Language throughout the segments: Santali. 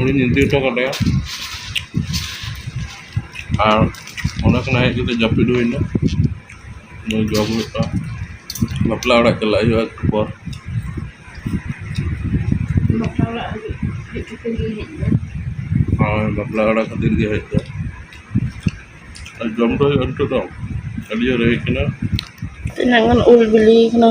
ᱩᱱᱤᱧ ᱤᱫᱤ ᱦᱚᱴᱚ ᱠᱟᱫᱮᱭᱟ ᱟᱨ ᱚᱸᱰᱮ ᱠᱷᱚᱱᱟᱜ ᱦᱮᱡ ᱠᱟᱛᱮᱫ ᱡᱟᱹᱯᱤᱫ ᱦᱩᱭ ᱮᱱᱟ ᱱᱤᱛᱚᱜ ᱡᱚᱢ ᱦᱩᱭᱩᱜᱼᱟ ᱵᱟᱯᱞᱟ ᱚᱲᱟᱜ ᱪᱟᱞᱟᱜ ᱦᱩᱭᱩᱜᱼᱟ ᱮᱠᱴᱩ ᱯᱚᱨ ᱦᱳᱭ ᱵᱟᱯᱞᱟ ᱚᱲᱟᱜ ᱠᱷᱟᱹᱛᱤᱨ ᱜᱮ ᱦᱮᱡ ᱫᱚ ᱟᱨ ᱡᱚᱢ ᱫᱚ ᱦᱩᱭᱩᱜᱼᱟ ᱱᱤᱛᱚᱜ ᱫᱚ ᱟᱹᱰᱤ ᱡᱳᱨ ᱨᱮᱸᱜᱮᱡ ᱠᱟᱱᱟ ᱛᱤᱱᱟᱹᱜ ᱜᱟᱱ ᱩᱞ ᱵᱤᱞᱤᱭ ᱠᱟᱱᱟ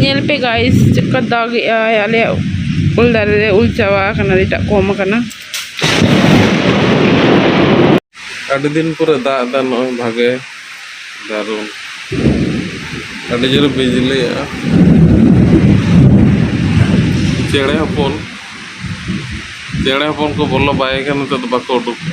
ᱧᱮᱞ ᱯᱮ ᱜᱟᱭᱤᱥ ᱪᱮᱫ ᱞᱮᱠᱟ ᱫᱟᱜ ᱮᱜᱼᱟᱭ ᱟᱞᱮᱭᱟᱜ ᱩᱞ ᱫᱟᱨᱮ ᱨᱮ ᱩᱞ ᱪᱟᱵᱟ ᱟᱠᱟᱱᱟ ᱮᱴᱟᱜ ᱠᱚᱢ ᱟᱠᱟᱱᱟ ᱟᱹᱰᱤ ᱫᱤᱱ ᱯᱚᱨᱮ ᱫᱟᱜ ᱮᱫᱟ ᱱᱚᱜᱼᱚᱭ ᱵᱷᱟᱜᱮ ᱫᱟᱨᱩᱱ ᱟᱹᱰᱤ ᱡᱳᱨᱮ ᱵᱤᱡᱽᱞᱤᱭᱮᱜᱼᱟ ᱪᱮᱬᱮ ᱦᱚᱯᱚᱱ ᱪᱮᱬᱮ ᱦᱚᱯᱚᱱ ᱠᱚ ᱵᱚᱞᱚ ᱵᱟᱭ ᱠᱟᱱᱟ ᱱᱤᱛᱚᱜ ᱫᱚ ᱵᱟᱠᱚ ᱩᱰᱩᱠᱚᱜᱼᱟ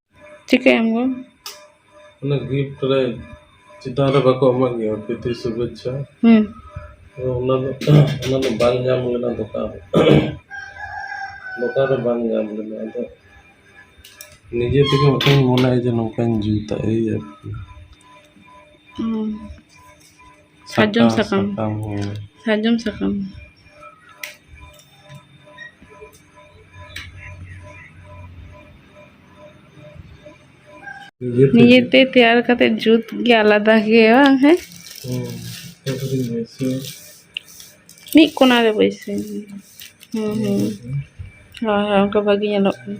ᱪᱤᱠᱟᱹᱭᱟᱢ ᱜᱳ ᱚᱱᱟ ᱜᱤᱯᱷᱴ ᱨᱮ ᱪᱮᱛᱟᱱ ᱨᱮ ᱵᱟᱠᱚ ᱮᱢᱟᱜ ᱜᱮᱭᱟ ᱯᱨᱤᱛᱤ ᱥᱩᱵᱷᱮᱪᱪᱷᱟ ᱦᱩᱸ ᱛᱚ ᱚᱱᱟ ᱫᱚ ᱚᱱᱟ ᱫᱚ ᱵᱟᱝ ᱧᱟᱢ ᱞᱮᱱᱟ ᱫᱚᱠᱟᱱ ᱨᱮ ᱫᱚᱠᱟᱱ ᱨᱮ ᱵᱟᱝ ᱧᱟᱢ ᱞᱮᱱᱟ ᱟᱫᱚ ᱱᱤᱡᱮ ᱛᱮᱜᱮ ᱢᱤᱫᱴᱟᱝ ᱢᱚᱱᱮᱭᱟ ᱡᱮ ᱱᱚᱝᱠᱟᱧ ᱡᱩᱛᱟ ᱮᱭ ᱟᱨᱠᱤ ᱦᱩᱸ ᱥᱟᱨᱡᱚᱢ ᱥᱟᱠᱟᱢ ᱥᱟᱨᱡᱚᱢ ᱥᱟᱠᱟᱢ ᱱᱤᱡᱮᱛᱮ ᱛᱮᱭᱟᱨ ᱠᱟᱛᱮ ᱡᱩᱛ ᱜᱮ ᱟᱞᱟᱫᱟ ᱜᱮᱭᱟ ᱵᱟᱝ ᱦᱮᱸ ᱢᱤᱫ ᱠᱚᱱᱟ ᱨᱮ ᱵᱟᱹᱭᱥᱟᱹᱣ ᱦᱩᱸ ᱦᱩᱸ ᱦᱳᱭ ᱦᱳᱭ ᱚᱱᱠᱟ ᱵᱷᱟᱜᱮ ᱧᱮᱞᱚᱜ ᱠᱟᱱᱟ